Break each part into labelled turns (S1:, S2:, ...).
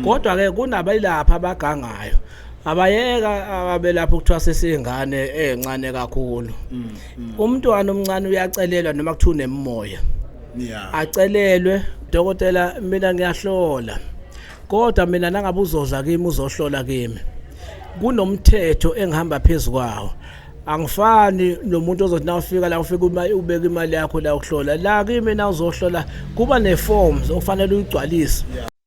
S1: kodwa ke kunabayilapha abagangayo abayeka abelapha ukuthiwa sesingane encane kakhulu mm, mm. umntwana omncane uyacelelwa noma kuthiwa unemimoya acelelwe dokotela mina ngiyahlola kodwa mina nangabe uzoza kimi uzohlola kimi kunomthetho engihamba phezu kwawo angifani nomuntu ozothi nawufika la ufika uma ubeka imali yakho la ukuhlola la kimi na uzohlola kuba ne forms ofanele uyigcwalise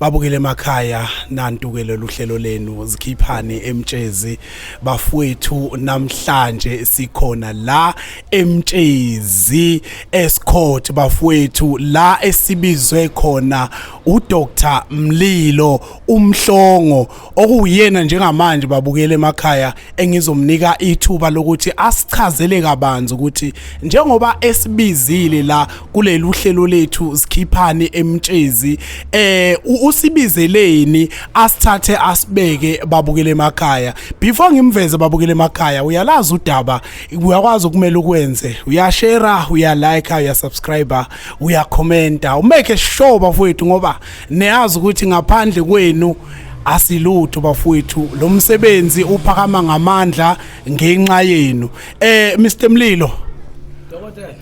S2: babukele emakhaya nantuke lolu hlelo lenu zikhiphani emtshezi bafowethu namhlanje sikhona la emtshezi escourt bafowethu la esibizwe khona uDr Mlilo umhlongo okuwuyena njengamanje babukele emakhaya engizomnika ithuba lokuthi asichazele kabanzi ukuthi njengoba esibizile la kuleli uhlelo lethu sikhiphani emtshezi eh usibizeleni asithathe asibeke babukele emakhaya before ngimveze babukele emakhaya uyalazi udaba uyakwazi ukumela ukwenze uyashare uyalike uyasubscribe uyakhomenta umeke sure bafowethu ngoba niyazi ukuthi ngaphandle kwenu asilutho bafowethu lo msebenzi uphakama ngamandla ngenxa yenu eh Mr Mlilo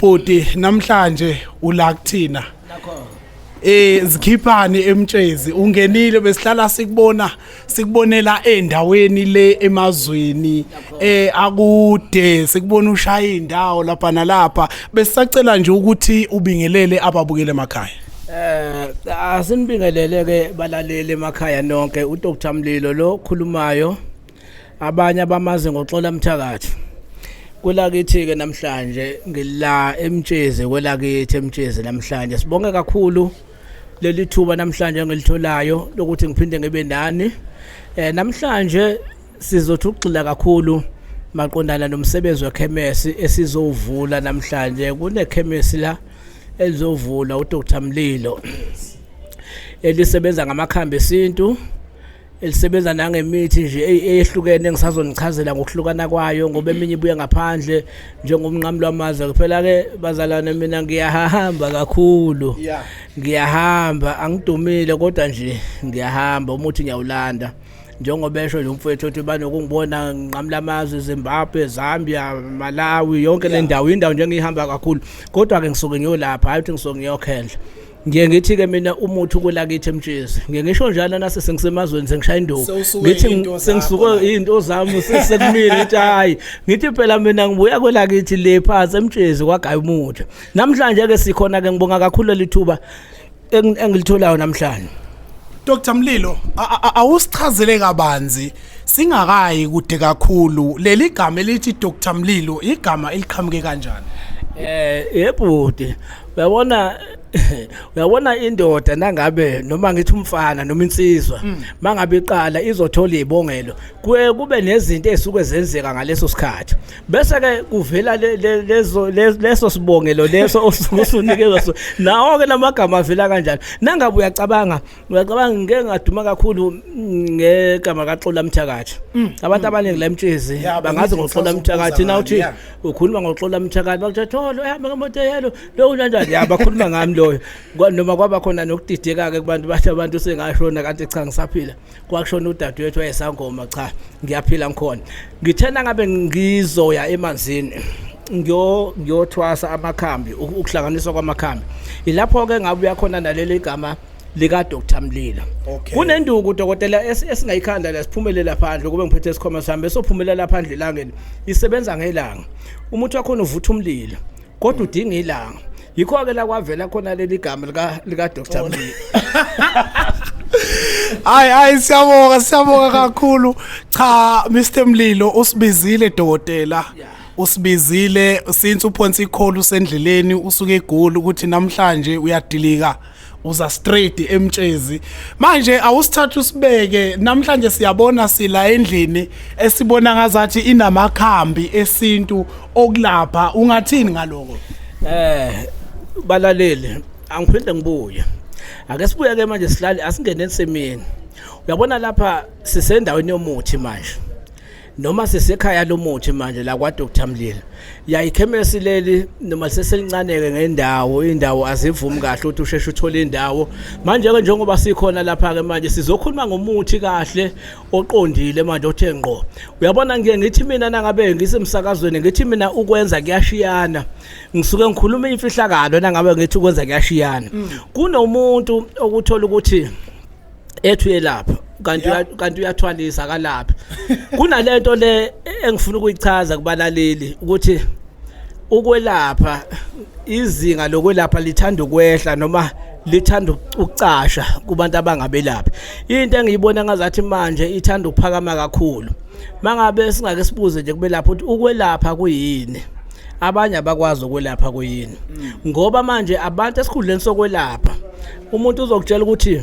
S1: bhuti
S2: namhlanje ula kuthina
S1: eh
S2: zikhiphani emtshezi ungenile besihlala sikubona sikubonela endaweni le emazweni eh akude sikubona ushaya indawo lapha nalapha besisacela nje ukuthi ubingelele ababukele emakhaya Eh asinibingelele
S1: ke balaleli emakhaya nonke uDr Mlilo lo khulumayo abanye abamazi ngoxola mthakathi kwelakithi ke namhlanje ngila emtshezi kwelakithi emtshezi namhlanje sibonge kakhulu leli thuba namhlanje engilitholayo lokuthi ngiphinde ngibe nani eh namhlanje sizothi ugxila kakhulu maqondana nomsebenzi wekhemesi esizowuvula namhlanje kunekhemesi la elizovula uDr Mlilo elisebenza ngamakhambi esintu elisebenza nangemithi nje eyehlukene ngisazonichazela ngokuhlukana kwayo ngoba eminye ibuye ngaphandle njengomnqamu lwamazwe kuphela-ke bazalwane mina ngiyahamba kakhulu ngiyahamba angidumile kodwa nje ngiyahamba umuthi ngiyawulanda njengoba esho nje umfowethu othi banokungibona nginqamula amazwe Zimbabwe Zambia Malawi yonke le ndawo indawo nje engiyihamba kakhulu kodwa ke ngisuke ngiyolapha hayi ukuthi ngisuke ngiyokhendla ngiye ngithi ke mina umuthi ukulakithi emtshezi ngiye ngisho njalo nase sengisemazweni sengishaya induku ngithi sengisuke izinto zami sekumile ngithi hayi ngithi phela mina ngibuya kwelakithi le phansi emtshezi kwagaya umuthi namhlanje ke sikhona ke ngibonga kakhulu lithuba engilitholayo namhlanje Dr
S2: Mlilo awusichazele kabanzi singakayi kude kakhulu leli gama elithi Dr Mlilo igama eliqhamuke kanjani eh
S1: yebhuti uyabona uyabona indoda nangabe noma ngithi umfana noma insizwa mm. mangabe iqala izothola izibongelo kuye kube nezinto ezisuke zenzeka ngaleso sikhathi bese ke kuvela lezo leso sibongelo leso osuke usunikezwa so nawo ke lamagama avela kanjalo nangabe uyacabanga Uyacabanga ngeke ngaduma kakhulu ngegama kaXola Mthakathi. Mm. Abantu mm. abaningi la emtshezi bangazi ngoXola Mthakathi na uthi ukhuluma ngoXola Mthakathi bakuthi tholo ehamba ngemoto yelo lo unanjani ya bakhuluma ngami loyo. Noma kwaba khona nokudideka ke kubantu bathi abantu sengashona kanti cha ngisaphila. Kwakushona udadewethu wayesangoma cha ngiyaphila ngikhona. Ngithena ngabe ngizoya emanzini. ngiyo ngiyothwasa amakhambi ukuhlanganiswa kwamakhambi ilapho ke ngabuya khona naleli gama lika Dr Mlilo okay. kunenduku dokotela esingayikhanda la siphumelela phandle kube ngiphethe isikhoma sami besophumelela phandle elangeni isebenza ngelanga umuthi wakho uvutha umlilo kodwa udinga ilanga yikho ke la kwavela khona leli gama lika lika Dr oh. Mlilo
S2: Hayi hayi siyabonga siyabonga kakhulu cha Mr Mlilo usibizile dokotela yeah. usibizile since uphonsa ikholu sendleleni usuke egoli ukuthi namhlanje uyadilika uza straight emtshezi manje awusithatha usibeke namhlanje siyabona sila endlini esibona ngazathi inamakhambi esintu okulapha ungathini ngaloko eh balaleli
S1: angiphinde ngibuye ake sibuye ke manje silale asingene ensimini uyabona lapha sisendaweni yomuthi manje noma sisekhaya lomuthi manje la kwa Dr Mlilo yayikhemesi leli noma seselincaneke ngendawo indawo azivumi kahle ukuthi usheshe uthole indawo manje ke njengoba sikhona lapha ke manje sizokhuluma ngomuthi kahle oqondile manje othe ngqo uyabona ngiye ngithi mina nangabe ngisemsakazweni ngithi mina ukwenza kuyashiyana ngisuke ngikhuluma imfihlakalo nangabe ngithi ukwenza kuyashiyana mm. kunomuntu okuthola ukuthi ethu yelapha kanti kanti uyathwalisa kalapha kunalento le engifuna ukuyichaza kubalaleli ukuthi ukwelapha izinga lokwelapha lithanda ukwehla noma lithanda ukucasha kubantu abangabelaphi into engiyibona ngazathi manje ithanda ukuphakama kakhulu mangabe singake sibuze nje kubelapha ukuthi ukwelapha kuyini abanye abakwazi ukwelapha kuyini mm. ngoba manje abantu esikhundleni sokwelapha umuntu uzokutshela ukuthi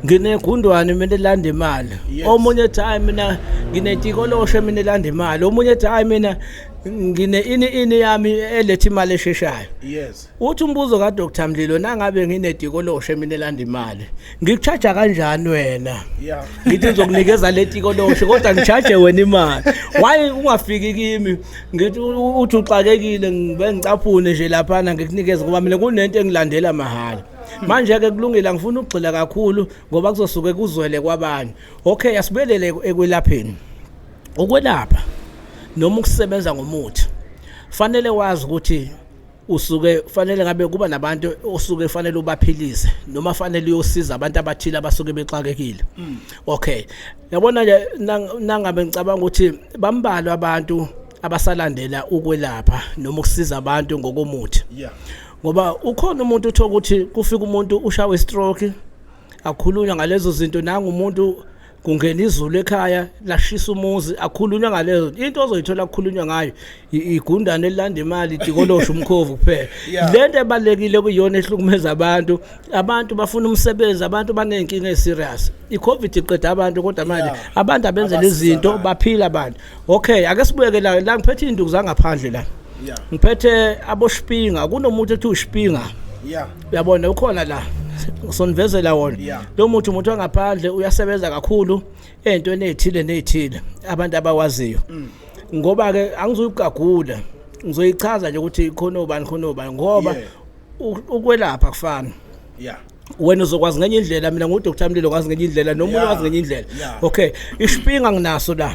S1: nginegundwane mina elanda imali omunye ethi hayi mina nginetikoloshe mina elanda imali omunye ethi hayi mina ngine ini ini yami eletha imali esheshayo yes Uthi umbuzo ka Dr Mlilo nangabe nginedikoloshe mina elanda imali ngikucharge kanjani wena yeah ngithi ngizokunikeza letikoloshe kodwa ngicharge wena imali why ungafiki kimi ngithi uthi uxakekile ngibe ngicaphune nje lapha na ngikunikeza ngoba mina kunento engilandela mahhala manje ke kulungile ngifuna ukugxila kakhulu ngoba kuzosuke kuzwele kwabanye okay asibelele ekwelapheni ukwelapha noma ukusebenza ngomuthi fanele wazi ukuthi usuke fanele ngabe kuba nabantu osuke fanele ubaphilise noma fanele uyosiza abantu abathile abasuke bexakekile mm. okay yabona nje nangabe ngicabanga ukuthi bambalwa abantu abasalandela ukwelapha noma ukusiza abantu ngokomuthi yeah ngoba ukhona umuntu uthoka ukuthi kufika umuntu ushawe stroke akhulunywa ngalezo zinto nangu umuntu kungena izulu ekhaya lashisa umuzi akhulunywa ngalezo into ozoyithola kukhulunywa ngayo igundane elilanda imali idikolosha umkhovu kuphela lento ebalekile kuyona ehlukumeza abantu abantu bafuna umsebenzi abantu banenkinga eserious icovid iqeda abantu kodwa manje abantu abenzela izinto baphila abantu okay ake sibuyeke la la ngiphethe induku zangaphandle la ngiphethe aboshipinga kunomuntu ethi ushipinga yeah uyabona ukhona la sondivezela wona Yeah. lo muthi umuntu wangaphandle uyasebenza kakhulu ey'ntweni ey'thile ney'thile abantu abawaziyo Mm. ngoba-ke angizuyikugagula ngizoyichaza nje ukuthi khona ubani khona ubani ngoba Yeah. u- ukwelapha kufana yeah wena uzokwazi ngenye indlela mina ngudr mlilo ngazi ngenye indlela nomunye Yeah. wazi ngenye indlela Yeah. okay isipinga nginaso la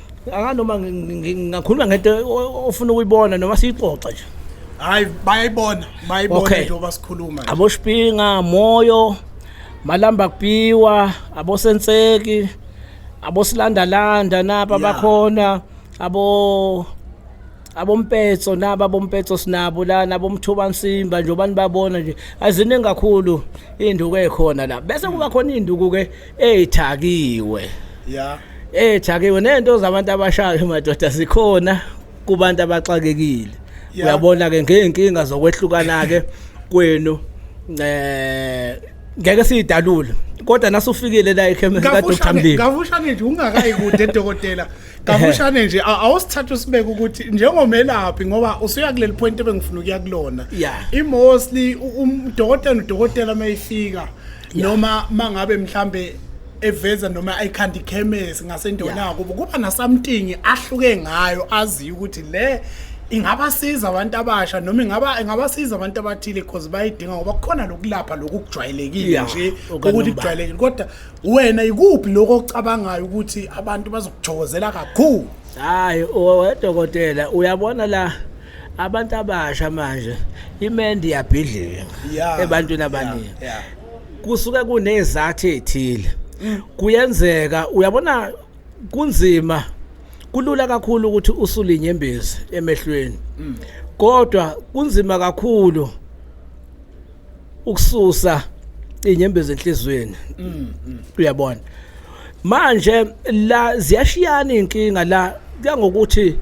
S1: akanoma ngingakhuluma ngento ofuna ukuyibona noma siyixoxe nje hayi
S2: bayayibona bayibona okay. njengoba sikhuluma aboshipinga moyo
S1: malamba kupiwa abosenseki abosilandalanda napa yeah. bakhona abo abompetso naba bompetso sinabo lana bomthuba nsimba njengoba nibabona nje aziningi kakhulu induku ekhona la bese kuba khona induku ke ethakiwe ya ethakiwe nento zabantu abashayo madoda zikhona kubantu abaxakekile Yeah. uyabona ke ngeenkinga zokwehlukana ke kwenu eh ngeke sidalule kodwa nasufikile la ekhemisi ka Dr Kafushane- Mlilo kafushane nje ungakayi
S2: kude dokotela kafushane nje a- awusithatha usibeke ukuthi njengomelaphi ngoba usuya kuleli point ebengifuna ukuya kulona Yeah. imostly udokotela udokotela mayifika noma mangabe mhlambe eveza noma ayikhanda ikhemesi ngasendonako kubo kuba nasamtingi ahluke ngayo aziyo ukuthi le ingabasiza abantu abasha noma ingaba ingabasiza abantu abathile because bayidinga ngoba kukhona lokulapha lokujwayelekile Yeah, nje okukanomba. ukuthi kujwayelekile kodwa wena ikuphi lokho ocabangayo ukuthi abantu bazokuthokozela kakhulu hayi
S1: owedokotela uyabona la abantu abasha manje imendi iyabhidlika Yeah. ebantwini abaningi Yeah, yeah. kusuke kunezathi ezithile kuyenzeka uyabona kunzima kulula kakhulu ukuthi usule inyembezi emehlweni kodwa kunzima kakhulu ukususa inyembezi enhlizweni uyabona manje la ziyashiyana inkinga la kangokuthi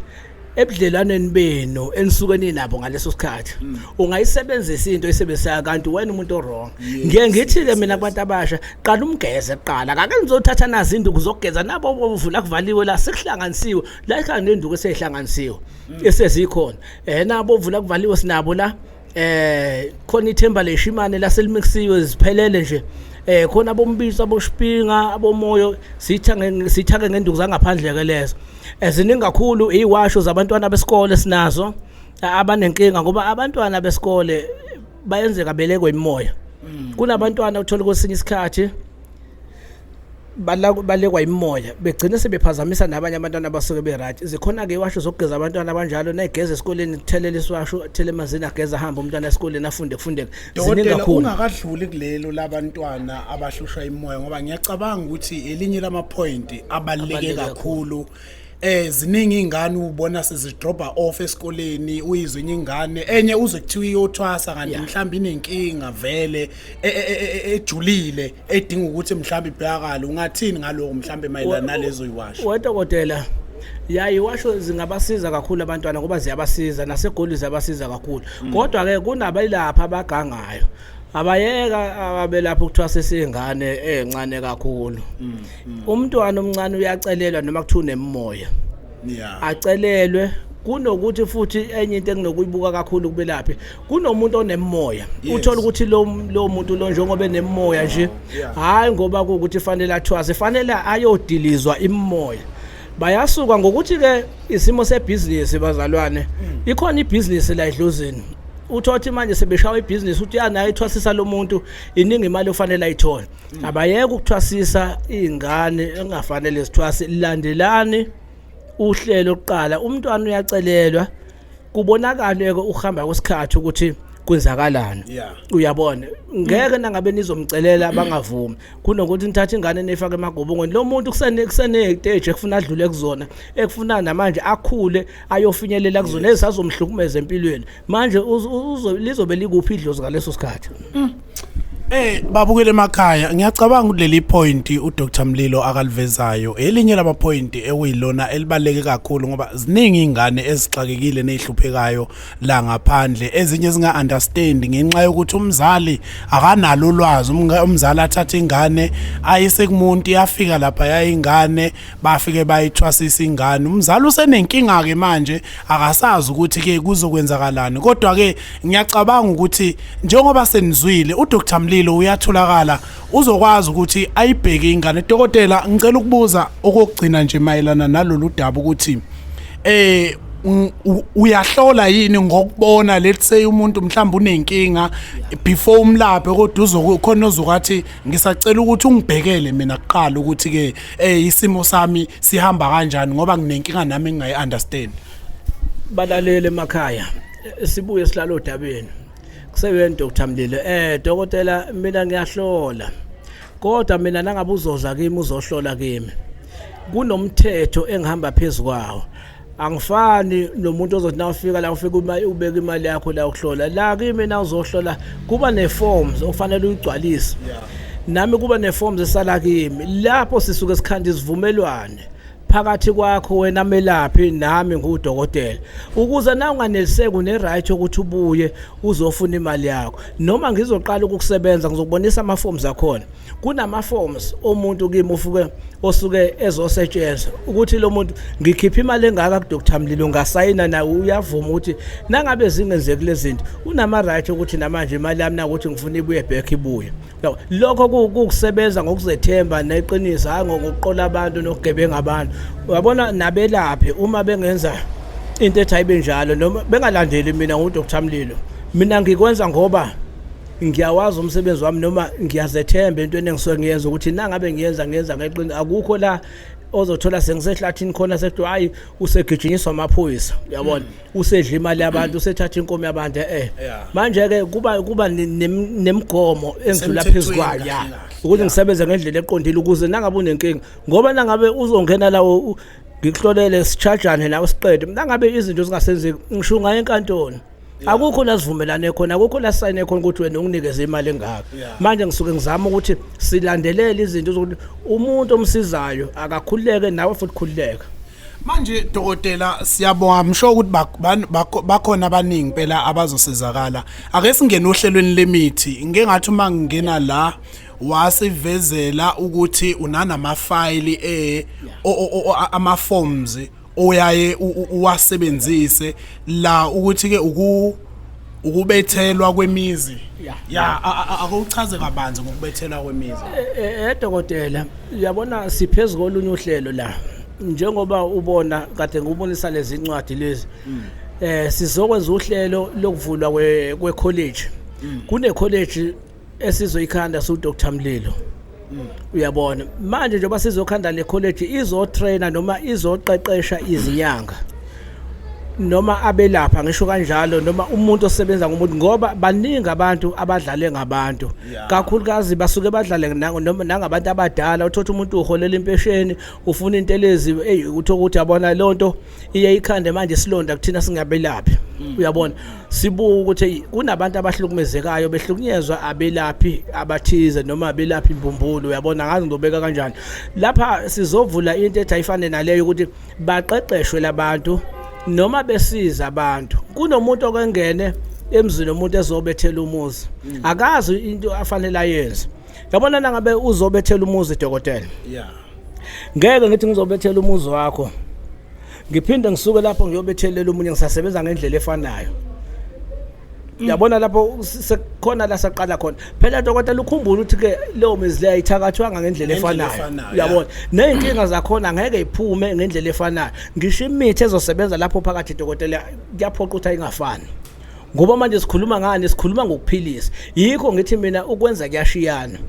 S1: ebudlelwaneni benu enisuke ninabo ngaleso sikhathi mm. ungayisebenzisa into esebenzisayo kanti wena umuntu owrong ngiye ngithi-ke mina kubantu abasha qala umgeze kuqala kake nizothatha nazi induku zokugeza nabo bovula kuvaliwe la sekuhlanganisiwe la ikhanga nenduku eseyihlanganisiwe mm. esezikhona um eh, nabo ovula kuvaliwe sinabo la eh khona ithemba leshimane laselimixisiwe ziphelele nje eh khona abombiso aboshipinga abomoyo sithange sithake ngenduku zangaphandle ke lezo eziningi eh, kakhulu iwasho zabantwana besikole sinazo eh, abanenkinga ngoba abantwana besikole bayenzeka belekwe imoya mm. kunabantwana uthola kwesinye isikhathi balekwa imimoya begcine sebephazamisa nabanye abantwana abasuke be-right zikhona-ke iwasho zokugeza abantwana abanjalo nayigeza esikoleni thelela isiwasho athele emanzini ageza ahambe umntwana esikoleni afunde kufundeka dokotela ungakadluli kulelo
S2: labantwana abahlushwa imimoya ngoba ngiyacabanga ukuthi elinye lamaphoyinti abaluleke kakhulu eh ziningi izingane ubona sezidroba off esikoleni uyizwe enye ingane enye uze kuthiwa iyothwasa kanti mhlawumbe inenkinga vele e- e- e- e- ejulile edinga ukuthi mhlawumbe ibhekakala ungathini ngaloko mhlawumbe mayelana nalezo uyiwasho wedokotela
S1: yaye washo zingabasiza kakhulu abantwana ngoba ziyabasiza nasegoli ziyabasiza kakhulu kodwa-ke kunabayilapha abagangayo abayeka abelapha ukuthiwa sesingane encane kakhulu mm, mm. umntwana omncane uyacelelwa noma kuthiwa unemimoya acelelwe kunokuthi futhi enye into enginokuyibuka kakhulu kubelaphi kunomuntu onemimoya uthola ukuthi lo lo muntu lo njengoba enemimoya nje hayi ngoba ukuthi fanele athwaze fanele ayodilizwa imimoya bayasuka ngokuthi ke isimo sebhizinisi bazalwane mm. ikhona ibhizinisi la edlozini uthothi manje sebeshawa ibhizinisi uthi yanayo ithwasisa lomuntu iningi imali ofanele ayithole mm. abayeke ukuthwasisa izingane engafanele zithwase landelani uhlelo oqala umntwana uyacelelwa kubonakale ke uhamba kwesikhathi ukuthi kwenzakalana yeah. uyabona ngeke mm. nangabe nizomcelela bangavumi kunokuthi nithathe ingane nefake emagobongweni lo muntu kusene kusene stage ekufuna adlule kuzona ekufuna namanje akhule ayofinyelela kuzona yes. ezazomhlukumeza empilweni manje lizobe likuphi idlozi ngaleso sikhathi mm. Eh
S2: babukele emakhaya ngiyacabanga kuleli point uDr Mlilo akalivezayo elinye lama point ekuyilona elibaleke kakhulu ngoba ziningi ingane ezixakekile nezihluphekayo la ngaphandle ezinye zinga understand ngenxa yokuthi umzali akanalo ulwazi umzali athatha ingane ayise kumuntu yafika lapha yayingane bafike bayithwasisa ingane umzali usenenkinga ke manje akasazi ukuthi ke kuzokwenzakalani kodwa ke ngiyacabanga ukuthi njengoba senizwile uDr Mlilo uyatholakala uzokwazi ukuthi ayibheke ingane dokotela ngicela ukubuza okugcina nje mayelana nalolu daba ukuthi eh uyahlola yini ngokubona let's say umuntu mhlawumbe unenkinga before umlaphe kodwa uzokhona ozokathi ngisacela ukuthi ungibhekele mina kuqala ukuthi ke eh isimo sami sihamba kanjani ngoba nginenkinga nami engingayi understand
S1: balalele emakhaya sibuye sihlala odabeni kuseweni Dr Mlilo eh dokotela mina ngiyahlola kodwa mina nangabe uzoza kimi uzohlola kimi kunomthetho engihamba phezukwawo angifani nomuntu ozothi na ufika la ufika imali ubeka imali yakho la ukuhlola la kimi na uzohlola kuba neforms okufanele uyigcwalise nami kuba neforms esala kimi lapho sisuke sikhanda isivumelwane phakathi kwakho wena melaphi nami ngudokotela ukuze na unganeliseki une-right yokuthi ubuye uzofuna imali yakho noma ngizoqala ukukusebenza ngizokubonisa ama-forms akhona kunama-forms omuntu kimi ufuke osuke ezosetshenzwa ukuthi lo muntu ngikhiphe imali engaka kudr mlilo ungasayina naye uyavuma ukuthi nangabe zingenzeki lezi zinto unama-right ukuthi namanje imali yami nakuthi ngifuna ibuye back ibuye No, lokho kukusebenza ngokuzethemba neqiniso hayi ngokuqola abantu nokugebenga abantu. Uyabona nabelaphi uma bengenza into ethi ayibe njalo noma bengalandeli mina nguDr Mlilo. Mina ngikwenza ngoba ngiyawazi umsebenzi wami noma ngiyazethemba into enengisuke ngiyenza ukuthi nangabe ngiyenza ngiyenza ngeqiniso akukho la ozothola sengisehlathini khona sekuthiwa hayi usegijinyiswa amaphoyisa uyabona usedla imali yabantu usethatha inkomo yabantu eh manje ke kuba kuba nemigomo engidlula phezukwayo ya ukuthi ngisebenze ngendlela eqondile ukuze nangabe unenkinga ngoba nangabe uzongena lawo ngikuhlolele sichajane nawe siqede nangabe izinto zingasenzeki ngisho ngaye enkantolo akukho la sivumelane khona akukho la sign khona ukuthi wena unginikeze imali engaka manje ngisuke ngizama ukuthi silandelele izinto zokuthi umuntu omsizayo akakhululeke nawe futhi khululeka manje
S2: dokotela siyabonga msho ukuthi bakhona abaningi phela abazosizakala ake singene ohlelweni lemithi ngeke ngathi uma ngingena la wasivezela ukuthi unanamafayili eh ama forms oyaye uwasebenzise la ukuthi ke uku ukubethelwa kwemizi ya akuchaze kabanzi ngokubethelwa kwemizi eh, eh, eh dokotela
S1: uyabona siphezulu kolunye uhlelo la njengoba ubona kade ngubonisa lezi ncwadi lezi mm. eh sizokwenza uhlelo lokuvulwa kwe college mm. kune college esizoyikhanda su Dr Mlilo mm. uyabona manje njengoba sizokhanda le college izo trainer noma izoqeqesha izinyanga noma abelapha ngisho kanjalo noma umuntu osebenza ngomuntu ngoba baningi abantu abadlale ngabantu kakhulukazi basuke badlale noma nangabantu abadala uthothi umuntu uholela impesheni ufuna into elezi hey uthokuthi abona lonto iye ikhande manje silonda kuthina singabelaphi mm. uyabona sibuka ukuthi kunabantu abahlukumezekayo behlukunyezwa abelaphi abathize noma abelaphi imbumbulu uyabona ngazi ngizobeka kanjani lapha sizovula into ethi ayifane naleyo ukuthi baqeqeshwe labantu noma besiza abantu kunomuntu okengene emzini omuntu ezobethela umuzi mm. akazi into afanele ayenze yabona nangabe uzobethela umuzi dokotela yeah ngeke ngithi ngizobethela umuzi wakho ngiphinde ngisuke lapho ngiyobethelela umunye ngisasebenza ngendlela efanayo yabona lapho sekukhona la saqala khona phela dokotela ukhumbula ukuthi ke leyo mizi leyo ayithakathwanga ngendlela efanayo uyabona nezinkinga zakhona ngeke iphume ngendlela efanayo ngisho imithi ezosebenza lapho phakathi dokotela kuyaphoqa ukuthi ayingafani ngoba manje sikhuluma ngani sikhuluma ngokuphilisa yikho ngithi mina ukwenza kuyashiyana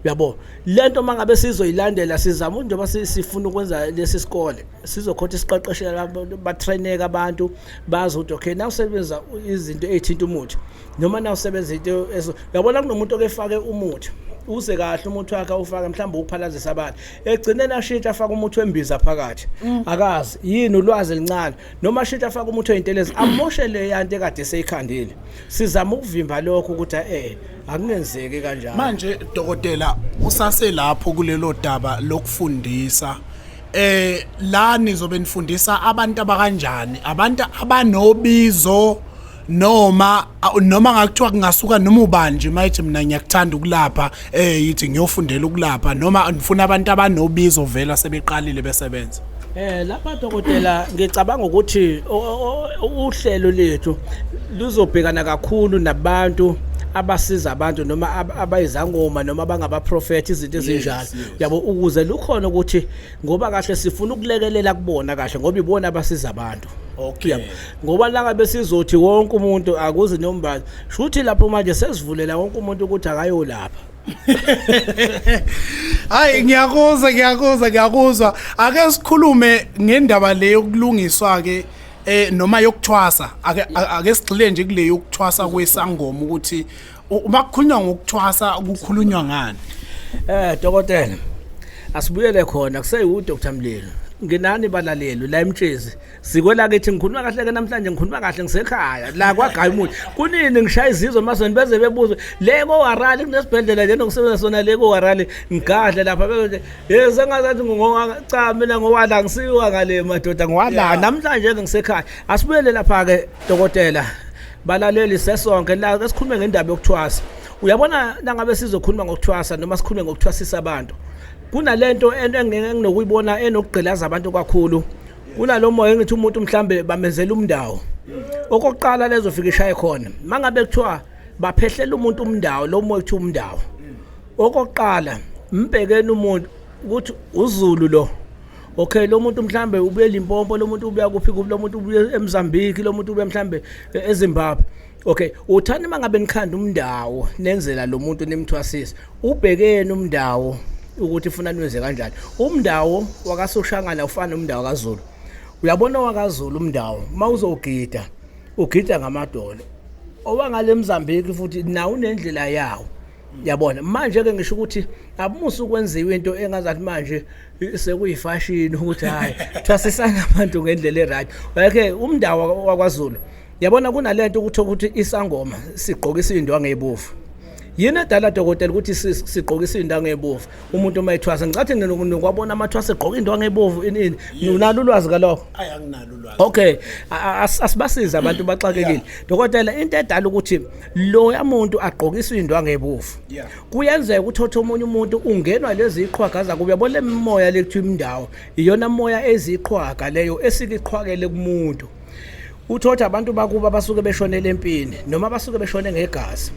S1: uyabo lento mangabe sizoyilandela sizama njengoba sifuna ukwenza lesi sikole sizokhotha isiqeqeshela batraineka abantu bazi ukuthi okay na usebenza izinto ezithinta umuthi noma na usebenza into uyabona kunomuntu okefake umuthi uze kahle umuthi wakhe ufaka mhlawumbe ukuphalazisa abantu egcine nashintsha afaka umuthi wembiza phakathi mm. akazi yini ulwazi elincane noma shintsha afake umuthi oyintelezi amoshe le yanto ekade seyikhandile sizama ukuvimba lokho ukuthi eh akungenzeki kanjalo manje dokotela
S2: usaselapho kulelo daba lokufundisa eh la nizobe nifundisa abantu abakanjani abantu abanobizo noma noma ngakuthiwa kungasuka noma ubani nje mayithi mina ngiyakuthanda ukulapha eh yithi ngiyofundela ukulapha noma ngifuna abantu abanobizo vela sebeqalile besebenza Eh lapha
S1: dokotela ngicabanga ukuthi uhlelo lethu luzobhekana kakhulu nabantu abasiza abantu noma abayizangoma noma abangabaprofethi izinto ezinjalo yabo ukuze lukhona ukuthi ngoba kahle sifuna ukulekelela kubona kahle ngoba ibona abasiza abantu okay
S2: ngoba langa
S1: besizothi wonke umuntu akuzi nombazi shuthi lapho manje sesivulela wonke umuntu ukuthi akayolapha
S2: hayi ngiyakuzwa ngiyakuzwa ngiyakuzwa ake sikhulume ngendaba le yokulungiswa ke eh noma yokuthwasa ake ake sigxile nje kule yokuthwasa kwesangoma ukuthi uma kukhulunywa ngokuthwasa kukhulunywa ngani eh dokotela
S1: asibuyele khona kuseyi uDr Mlilo nginani balaleli la emtshezi sikwelakithi ngikhuluma kahle ke namhlanje ngikhuluma kahle ngisekhaya la kwagaya umuthi kunini ngishaya izizwe emazweni beze bebuzwe le kowarali kunesibhedlela lena ngisebenza sona le kowarali ngigadle lapha bebe hey sengazathi ngingowaka cha mina ngowala ngisiwa ngale madoda ngowala namhlanje ke ngisekhaya asibuyele lapha ke dokotela balaleli sesonke la esikhulume ngendaba yokuthwasa uyabona nangabe sizokhuluma ngokuthwasa noma sikhulume ngokuthwasisa abantu kunalento ento enginokuyibona enokugqilaza abantu kakhulu kunalo moya engithi umuntu mhlambe bamenzela umndawo okokuqala lezofika ishaye khona mangabe kuthiwa baphehlela umuntu umndawo lo moya kuthiwa umndawo okokuqala mbhekeni umuntu ukuthi uzulu lo okay lo muntu mhlambe ubuye limpompo lo muntu ubuya kuphi kuphi lo muntu ubuye emzambiki lo muntu ubuye mhlambe ezimbabwe Okay, uthanda mangabe nikhanda umndawo nenzela lo muntu nimthwasise. Ubhekeni umndawo ukuthi ufuna niwenze kanjani. Umndawo wakasoshangana ufana nomndawo kaZulu. Uyabona wakaZulu umndawo mawuzogida ugida ngamadolo. Owangale Mozambique futhi nawo unendlela yawo. Yabona manje ke ngisho ukuthi abumusa ukwenziwa into engazathi manje sekuyifashini ukuthi hayi thwasisana abantu ngendlela e-right. Wayekhe umndawo wakwaZulu yabona kunalento ukuthi ukuthi isangoma sigqokisa indwangu ezibovu yini edala dokotela ukuthi sigqokisa indwangu ezibovu umuntu uma ethwasa ngicathi nokwabona amathwasa egqoka indwangu ezibovu inini nginalo ulwazi kalokho ayi anginalo
S2: ulwazi okay
S1: asibasiza abantu baxakekile dokotela into edala ukuthi lo yamuntu agqokisa indwangu ezibovu kuyenzeka ukuthi othe omunye umuntu ungenwa lezi iqhwaga zakuba yabona lemimoya lekuthiwa imindawo iyona moya eziqhwaga leyo esikiqhwakele kumuntu uthothi abantu bakuba abasuke beshonele empini noma abasuke beshone ngegazi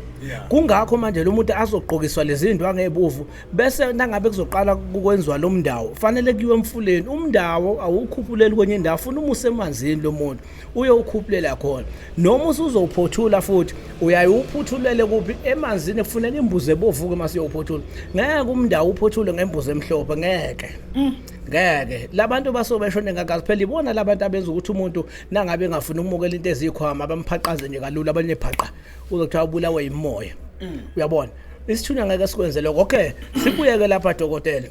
S1: kungakho manje lo muntu azogqokiswa lezi ndwa ngebuvu bese nangabe kuzoqala kukwenziwa lo mndawo fanele kuyiwe emfuleni umndawo awukhuphuleli kwenye indawo funa umuse emanzini lo muntu uye ukhuphulela khona noma usuzowuphothula futhi uyaye uphuthulele kuphi emanzini kufuneka imbuzi ebovuke uma siyowuphothula ngeke umndawo uphothule ngembuzi emhlophe ngeke mm. ngeke labantu baso beshone ngaka kuphela ibona labantu abenza ukuthi umuntu nangabe engafuna ukumukela into ezikhwama abamphaqaze nje kalula abanye phaqa uzokuthiwa ubulawe yimoya mm. uyabona isithunywa ngeke sikwenze lokho okay sibuyeke lapha dokotela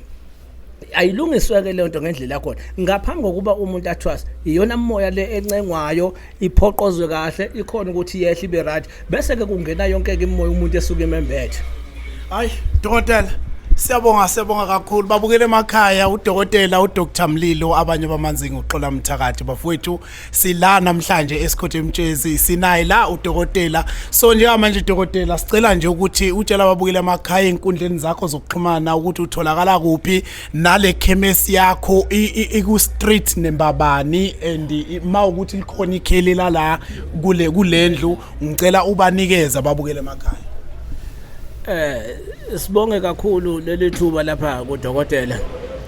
S1: ayilungiswe ke lento ngendlela yakhona ngaphambi kokuba umuntu athwasa iyona moya le encengwayo iphoqozwe kahle ikhona ukuthi yehle ibe right bese ke kungena yonke ke imoya umuntu esuke imembethe hayi
S2: dokotela siyabonga siyabonga kakhulu babukele emakhaya udokotela udr mlilo abanye bamanzinga uxola mthakathi bafowethu sila namhlanje esikhothe emtshezi sinaye la udokotela so njengamanje dokotela sicela nje ukuthi utshela babukele emakhaya enkundleni zakho zokuxhumana ukuthi utholakala kuphi nale khemesi yakho iku street nembabani and uma ukuthi likhona ikheli lala kule kulendlu ngicela ubanikeze ababukele emakhaya eh
S1: sibonge kakhulu leli thuba lapha kudokotela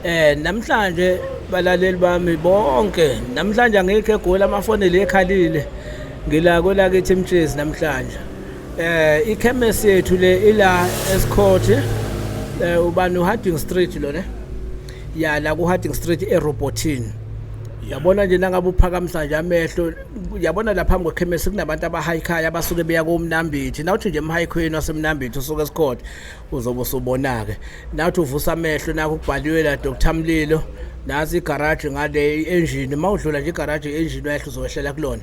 S1: eh namhlanje balaleli bami bonke namhlanje angikho egoli amafoni le ekhalile ngila kwelakithi mtshezi namhlanje Eh ikhemesi yethu le ila eScourt eh ubani uHarding Street lo ne? Ya la kuHarding Street eRobotin. Yabona nje nangabe uphakamisa nje amehlo yabona la phambi kwekhemesi kunabantu abahayikhaya abasuke beya komnambithi nawuthi nje emhayikhweni wasemnambithi usuke eScourt uzobe usubona ke nawuthi uvusa amehlo nakho kubhaliwe la Dr Mlilo nasi igaraji ngale engine mawudlula nje igaraji engine wehla uzohlela kulona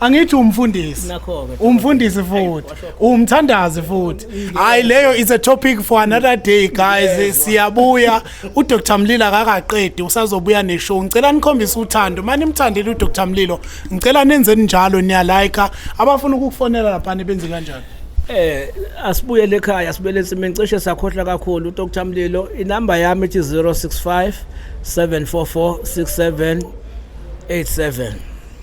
S2: angithi umfundisi Nakho-ke, umfundisi futhi umthandazi futhi hayi leyo is a topic for another day guys siyabuya udr mlilo akakaqedi usazobuya neshow ngicela nikhombise uthando mani nimthandile udr mlilo ngicela nenzeni njalo niyalayika abafuna ukukufonela laphana benze kanjani Eh
S1: asibuyele ekhaya sibuyele ensimini cishe sakhohlwa kakhulu uDr Mlilo inamba yami ethi 065 744 6787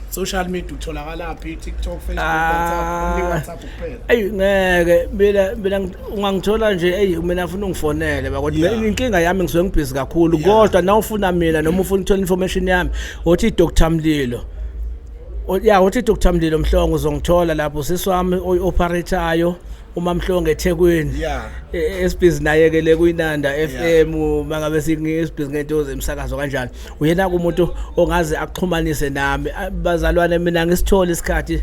S1: social
S2: media utholakala phi TikTok Facebook ah. WhatsApp ni WhatsApp kuphela
S1: ayi ngeke mina mina ungangithola nje ayi mina afuna ungifonele bakothi yeah. inkinga yami ngisuke ngibhizi kakhulu yeah. kodwa na ufuna mina noma ufuna uthola information yami othi Dr Mlilo ya othi Dr Mlilo Mhlongo uzongithola lapho siswami oyi operatayo uMamhlonge eThekwini yeah e, e, esibhizi naye ke le kuyiNanda FM mangabe singisibhizi ngentozi emsakazo kanjani uyena kumuntu ongaze akuxhumanise nami bazalwane mina ngisithole isikhathi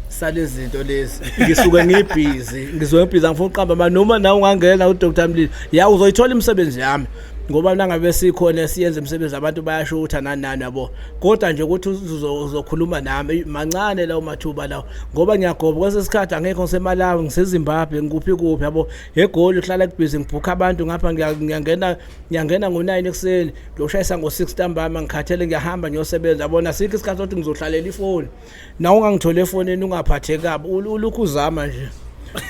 S1: salezinto lezi ngisuke ngibhizi ngizoyibhiza ngifuna uqamba noma nawe ungangena uDr Mlilo ya uzoyithola imisebenzi yami ngoba nangabe sikhona esiyenza imisebenzi abantu bayasho ukuthi ananani yabo kodwa nje ukuthi uzokhuluma nami mancane lawo mathuba lawo ngoba ngiyagoba kwesesikhathi angekho ngisemalawi ngisezimbabwe ngikuphi kuphi yabo egoli uhlala kubhizi ngibhukha abantu ngapha ngiyangena ngiyangena ngo-nine ekuseni ngiyoshayisa ngo-six ntambama ngikhathele ngiyahamba ngiyosebenza yabona sikho isikhathi sokuthi ngizohlalela ifoni na ungangithole efonini ungaphatheki kabi ulokhu uzama nje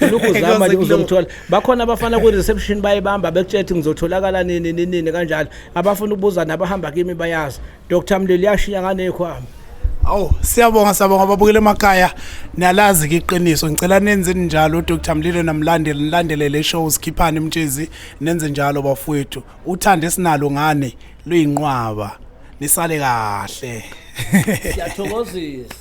S1: ulokhu uzama nje uzomthola bakhona abafana kwi-reception bayibamba bekutshela ukuthi ngizotholakala nini ninini kanjalo abafuna ukubuza nabahamba kimi bayazi dr mlilo yashiya nganekhwami awu
S2: siyabonga siyabonga ababukele emakhaya niyalazi ke iqiniso ngicela nenze njalo dr mlilo namlandeli nilandelele ishow sikhiphane mtshezi nenze njalo bafowethu uthando esinalo ngane luyinqwaba nisale kahle siyathokozisa